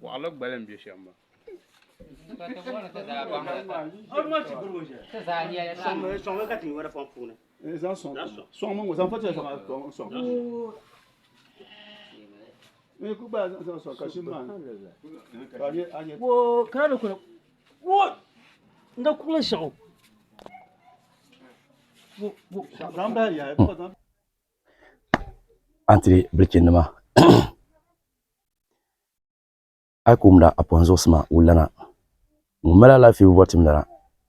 Bɔɣili gbali m-be shɛm maa. antiri bilichi nima a yi ku wumda a pɔhim zuɣusi maa wulilana ŋun mali alaafee bɔri tim lana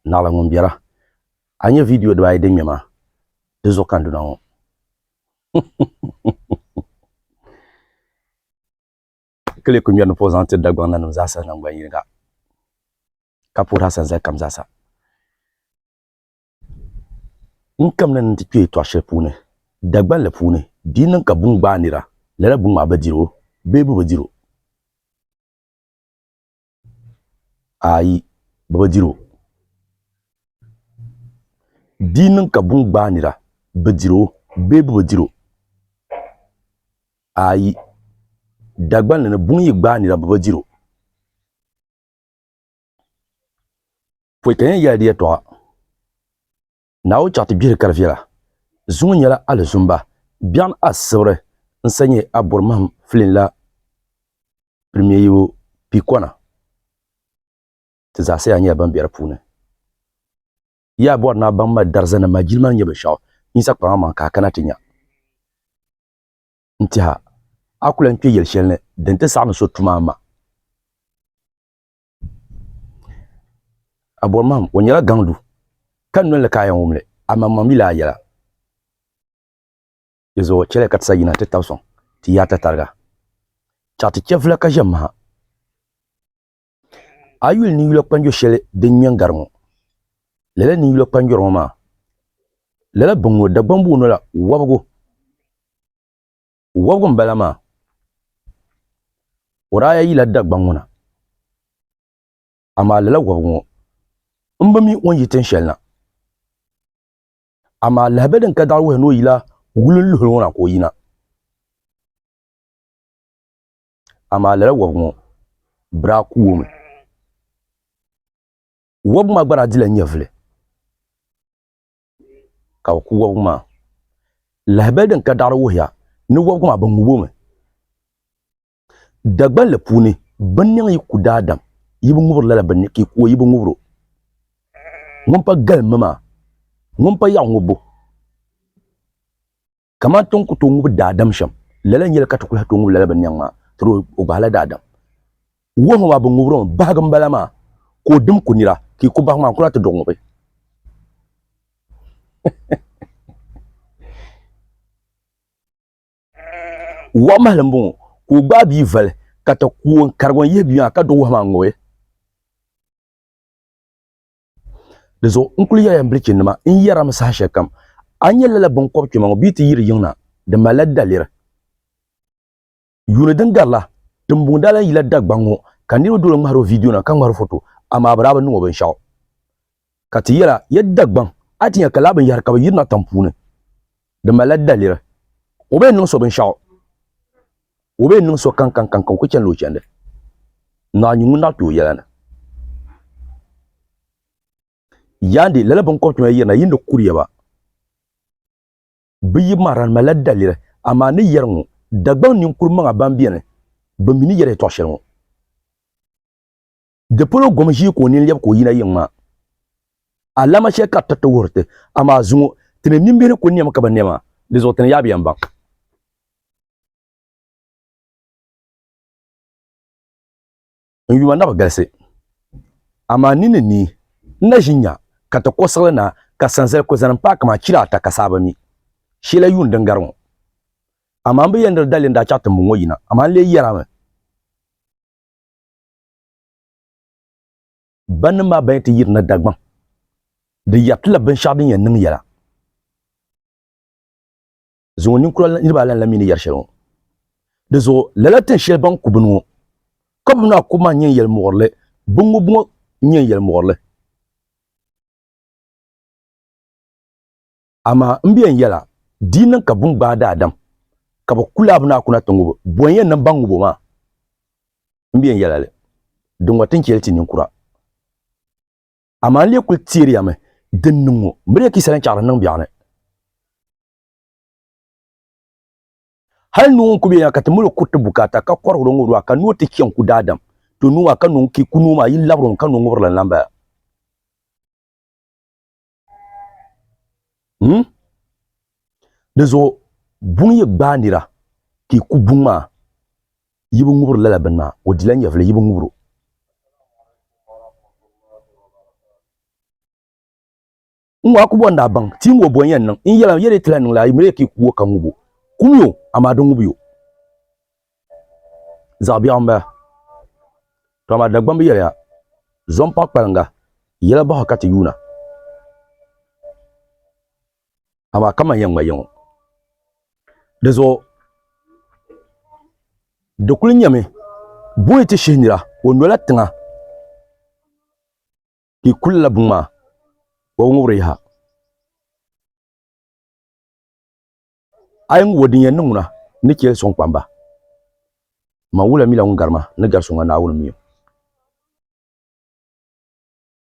naɣila ŋun bɛra a ni nya viidiyo dibaa ayi din ŋmɛ maa di zuɣu ka n duna ŋɔ ka lee kuli ŋmɛri ni puhi zaŋ tiri Dagbaŋ nanim zaasa naŋgban yini ka ka puhiri a sanzali kam zaasa N kamina ni n ti kpe yɛtɔɣ shɛli puuni Dagbanli puuni, di yi niŋ ka buŋ gbaai nira, lala buŋ maa bɛ dir o bee bɛ bi dir o? Aai! Bɛ bi dir o. Di yi niŋ ka buŋ gbaai nira, bɛ dir o bee bɛ bi dir o? Aai! Dagbanli ni buŋ yi gbaai nira, bɛ bi dir o. Pɔi ka yɛn yɛli di yɛtɔɣa, Naawuni chaɣ ti gbihiri kari viɛla, zuŋɔ nyɛla alizumba, biɛɣun asibiri n-sa nyɛ a bɔri mahim filin la pirimiayibu piikɔna, ti zaasa yaa nyɛla ban be di puuni. Yaa bɔri naa baŋ ma darzannim maa jilima ni nyɛ binshɛɣu Yisa kpaŋa maŋ ka a kana ti nya. N tɛha, a ku lan kpe yɛli shɛli ni din ti saɣim so tuma a ma. Aborimahim o nyɛla gaŋdu ka noli ni ka a yɛn wumli amaŋmaŋ mi lahi yɛla di zuɣu chɛliya ka ti sa yina ti tabi sɔŋ ti yaai tatariga chaɣ ti chɛvula ka ʒe maha a yi yuli ninyula kpanjo shɛli din nyɛ n-gari ŋɔ lala ninyula kpanjɔri ŋɔ maa lala biŋŋɔ Dagbamba o nola wɔbigu Wɔbigu m-bala maa. Wuraaya yila Dagbaŋ ŋuna, amaa lala wɔbigu ŋɔ m bi mi o ni yi tin shɛli na. Amaa lahabɛ din ka daɣiri wuhi ni o yila wulinluhili ŋɔ na ka o yina. Amaa lala wɔbigu ŋɔ bi daa ku o mi. Wɔbigu maa gba daa dila nyɛvili. ka bi ku wobigi maa. Lahabali din ka daɣiri wuhiya ni wobigi maa bi ŋub o mi. Dagbanli puuni bɛ niŋ yi ku daadam yi bi ŋubiri lala bɛ ni ka yi ku o yi bi ŋubir o. Ŋun pa galim mi maa, ŋun pa yaɣu ŋubbu. kamani ti ni ku tooi ŋubi daadam shɛm, lala n-yɛli ka ti ku lahi tooi ŋubi lala binnɛŋ maa, ti di o gbahala daadam. Wuhimi maa bi ŋubiri o mi, bahigu m-bala maa, ka o dim ku nira, ka yi ku bahigu maa, n ku lahi ti di o ŋubi. Wahu mahili m-bɔŋɔ, ka o gbaai bia vali, ka ti ku o n-karigi o n-yihi bia maa, ka di o wahu maa ŋubi. di zuɣu n kuli yɛrila n bilichi nima n yɛrami saha shɛli kam a nyɛ lala binkɔbi kpɛma ŋɔ bee ti yiri yiŋ na di malila daliri yuuni din garila timbuni daa lan yila dagbaŋ ŋɔ ka niriba doli ŋmahiri o viidiyonima ka ŋmahiri foto amaa bɛ daa bi niŋ o binshɛɣu ka ti yɛla ya dagbaŋ a ti nya ka lala binyɛhiri ka bɛ yirina tiŋ puuni Di malila daliri. O bi yɛn niŋ so binshɛɣu. O bi yɛn niŋ so kaŋkaŋkaŋkaŋ, o ku chanila o chandi. Naa nyu ŋun naɣ kpe o yɛla ni. Yandi, lala biŋkɔbitɔŋ ya yirina, yi ni kuriya ba bi yi mahira di malila daliri. Amaa ni yɛri ŋɔ, Dagbaŋ ninkurimaŋa ban beni, bɛ mi ni yɛri yɛtɔɣ shɛli ŋɔ. Di polo gom ʒii ka o nini lɛbi ka o yina yiŋ maa. Alama shɛli ka tiriti wuhiri ti, amaa zuŋɔ ti ni nimbihi ni kul nɛmi ka bi nɛ maa, di zuɣu ti ni yaa bi yɛn baŋ. N yuma na bi galisi, amaa n nini ni n na ʒi nya ka ti kɔ siɣili na ka sanzali kul zani m-paai kaman kila ata ka saa bi mi. Shɛla yuun din gari ŋɔ. Amaa m bi yɛn diri dalli n daa chaɣ ti mbuŋɔ yina, amaa n lee yɛrimi. Ba nim maa ban ti yiri na Dagbaŋ, di yɛritila binshɛɣu din yɛn niŋ yɛla. Zuŋɔ ninkura niriba alan la mi ni yɛri shɛli ŋɔ. Di zuɣu lala tin shɛli ban ku bini ŋɔ, ka bini maa ku maa n-nyɛ yɛlimuɣirili, bini ŋubu ŋɔ n-nyɛ yɛlimuɣirili. Amaa m biɛn yɛl a, di yi niŋ ka buŋ gbaai daadam ka bɛ ku laabu ni a kuna ti ŋub o, bɔ n-yɛn niŋ ba ŋub o maa? M biɛn yɛl a li, di ŋɔ ti ni chɛ li ti ninkura. Amaa n lee kul teeri ya mi din niŋ ŋɔ, m bi lee ki salinchɛɣiri n-niŋ biɛɣu ni. Hal noo ŋun ku be ya ka ti mal o kuriti bukaata ka kɔrigir o ŋubiri maa, ka noo ti chɛ n-ku daadam, to noo maa ka noo n-ki ku noo maa yi labir o mi ka noo ŋubirili n-lan bala. hmm? di zuɣu buŋ yi gbaai nira ka yi ku buŋ maa yi bi ŋubiri lala bini maa o dila nyɛvili yi bi ŋubiro n ŋɔ a ku bɔn daa baŋ ti ŋɔ bɔn yɛn niŋ n yɛla yɛli tila niŋla a yi miri ka yi ku o ka ŋubo kumiyo amaa di ŋubiyo zaɣ biɛɣu n bala ka amaa Dagbaŋ bi yɛli ha zo n paɣi kpalaŋa yɛla bahi ka ti yuuna amaa kamani yɛn ŋma yiŋɔ dizuɣu di kuli nyɛmi booyi ti shihi nira o nola tiŋa ka i ku lala buŋ maa o bi ŋubiri yaha A yi ŋubo din yɛn niŋ ŋuna, n ni chɛ sɔŋ kpamba. Man wula mi la ŋun gari ma ni gari so ŋɔ Naawuni mi o?